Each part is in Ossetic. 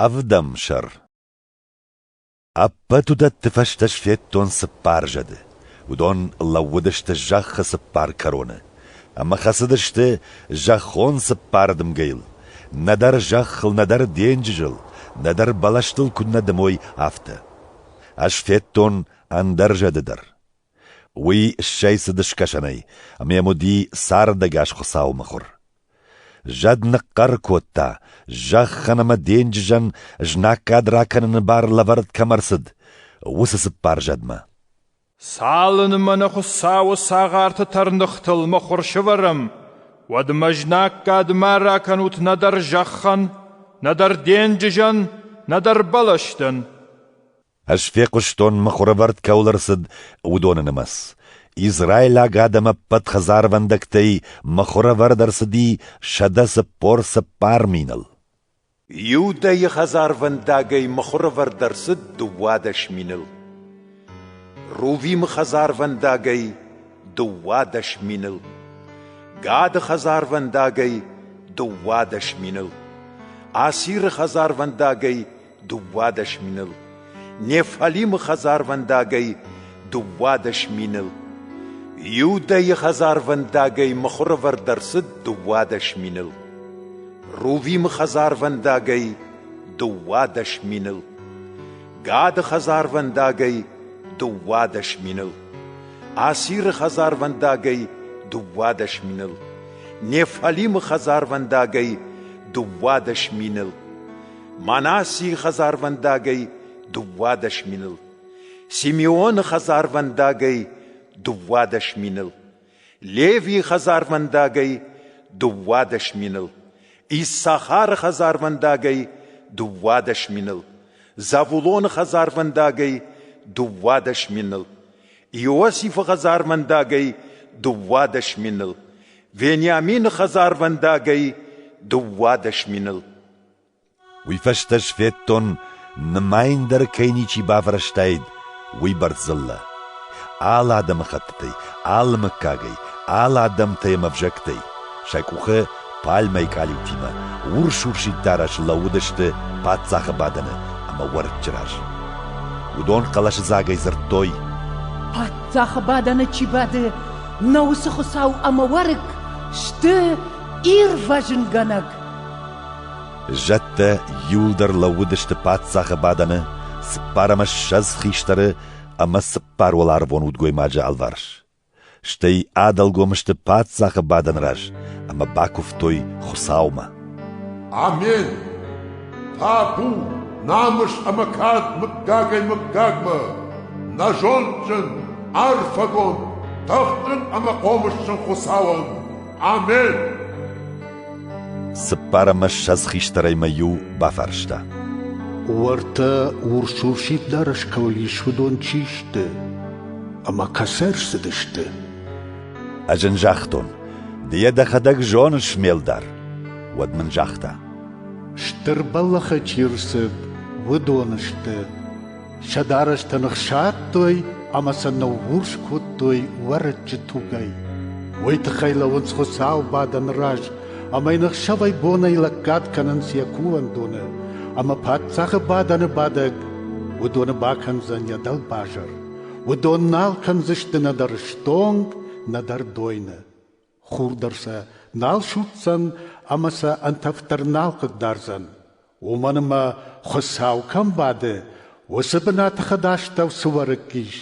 Ӕвдӕм сӕр Ӕппӕт уыдӕтты фӕстӕ сфедтон цыппар зӕды. Уыдон лӕууыдысты зӕххы цыппар кӕроны ӕмӕ хӕцыдысты зӕххон цыппар дымгӕйыл. Нӕдӕр зӕххыл, нӕдӕр денджызыл, нӕдӕр бӕлӕстыл куыннӕ дымой, афтӕ. Ӕз федтон ӕндӕр зӕды дӕр. Уый ссӕйцыд скӕсӕнӕй ӕмӕ йӕм уыди цардӕгас Хуыцауы мыхуыр. Зӕд ныхъхъӕр кодта, зӕххӕн ӕмӕ денджызӕн знаггад ракӕныны бар лӕвӕрд кӕм ӕрцыд, уыцы цыппар зӕдмӕ. «Цалынмӕ нӕ Хуыцауы цагъарты тӕрныхтыл мыхуыр сывӕрӕм, уӕдмӕ знаггадмӕ ракӕнут нӕдӕр зӕххӕн, нӕдӕр денджызӕн, нӕдӕр бӕлӕстӕн». Ӕз фехъуыстон, мыхуырӕвӕрд кӕуыл ӕрцыд, уыдоны нымӕц. Израилаг адӕм ӕппӕт хӕдзарвӕндӕгтӕй мыхуырӕвӕрд ӕрцыди сӕдӕ цыппор цыппар миныл. Иудӕйы хӕдзарвӕндагӕй мыхуырӕвӕрд ӕрцыд дыууадӕс миныл. Рувимы хӕдзарвӕндагӕй дыууадӕс миныл. Гады хӕдзарвӕндагӕй дыууадӕс миныл. Асиры хӕдзарвӕндагӕй дыууадӕс миныл, Нефалимы хӕдзарвӕндагӕй дыууадӕс миныл, Иудӕйы хӕдзарвӕндагӕй мыхуырӕвӕрд ӕрцыд дыууадӕс миныл, Рувимы хӕдзарвӕндагӕй дыууадӕс миныл, Гады хӕдзарвӕндагӕй дыууадӕс миныл, Асиры хӕдзарвӕндагӕй дыууадӕс миныл, Нефалимы хӕдзарвӕндагӕй дыууадӕс миныл, Мӕнӕ ци хӕдзарвӕндагӕй дууадӕс миныл, Симеони хӕдзарвӕндагӕй дууадӕс миныл, Леви хӕдзарвӕндагӕй дууадӕс миныл, Иссахары хӕдзарвӕндагӕй дууадӕс миныл, Завулони хӕдзарвӕндагӕй дууадӕс миныл, Иосифи хӕдзарвӕндагӕй дууадӕс миныл, Вениамини хӕдзарвӕндагӕй дууадӕс миныл. Уый фӕстӕ сфедтон, нымайындӕр кӕй ничи бафӕрӕзтаид, уыйбӕрц дзыллӕ. Алы адӕмыхӕттытӕй, алы мыггагӕй, алы адӕмтӕй ӕмӕ ӕвзӕгтӕй сӕ къухы пальмӕйы къалиутимӕ урс-урсид дарӕс лӕууыдысты паддзахы бадӕны ӕмӕ уӕрыччы раз. Уыдон хъӕлӕсыдзагӕй дзырдтой: «Паддзахы бадӕны чи бады, нӕ уыцы Хуыцау ӕмӕ уӕрыкк сты ирвӕзынгӕнӕг!» Зӕдтӕ иуылдӕр лӕууыдысты паддзахы бадӕны цыппар ӕмӕ ссӕдз хистӕры ӕмӕ цыппар уӕларвон удгоймаджы алварс. Стӕй адӕлгом сты паддзахы бадӕны раз ӕмӕ бакуывтой Хуыцаумӕ. Амен! Табу намыс ӕмӕ кад мыггагӕй мыггагмӕ, нӕ зондджын, арфӕгонд, тыхджын ӕмӕ хъомысджын Хуыцауӕн! Амен! Цыппар ӕмӕ ссӕдз хистӕрӕй мӕ иу бафарста. Уӕртӕ урс-урсид дарӕс кӕуыл ис, уыдон чи сты? Ӕмӕ кӕцӕ ӕрцыдысты? Ӕз ын загътон, ды йӕ дӕхӕдӕг зоныс, ме лдар. Уӕд мын загъта. Стыр бӕллӕхы чи рцыд, уыдон сты. Сӕ дарӕстӕн ӕхсадтой ӕмӕ сӕ ныгъгъуырс кодтой уӕрыччы тугӕй. Уый тыххӕй лӕуынц Хуыцау бадӕны раз ӕмӕ йын ӕхсӕвӕй-бонӕй лӕггад кӕнынц йӕ кувӕндоны, ӕмӕ паддзахы бадӕны бадӕг уыдоны бакӕндзӕн йӕ дӕлбазар. Уыдон нал кӕндзысты нӕдӕр стонг, нӕдӕр дойны. Хур дӕр сӕ нал судздзӕн ӕмӕ сӕ ӕнтӕфдӕр нал хъыгдардзӕн. Уымӕн ӕмӕ, Хуыцау кӕм бады, уыцы бынаты хӕдастӕу цы уӕрыкк ис,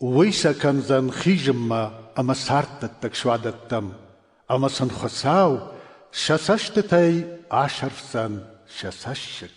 уый сӕ кӕндзӕн хизынмӕ ӕмӕ царддӕттӕг суадӕттӕм, ӕмӕ сын Хуыцау сӕ цӕстытӕй асӕрфдзӕн сӕ цӕссыг.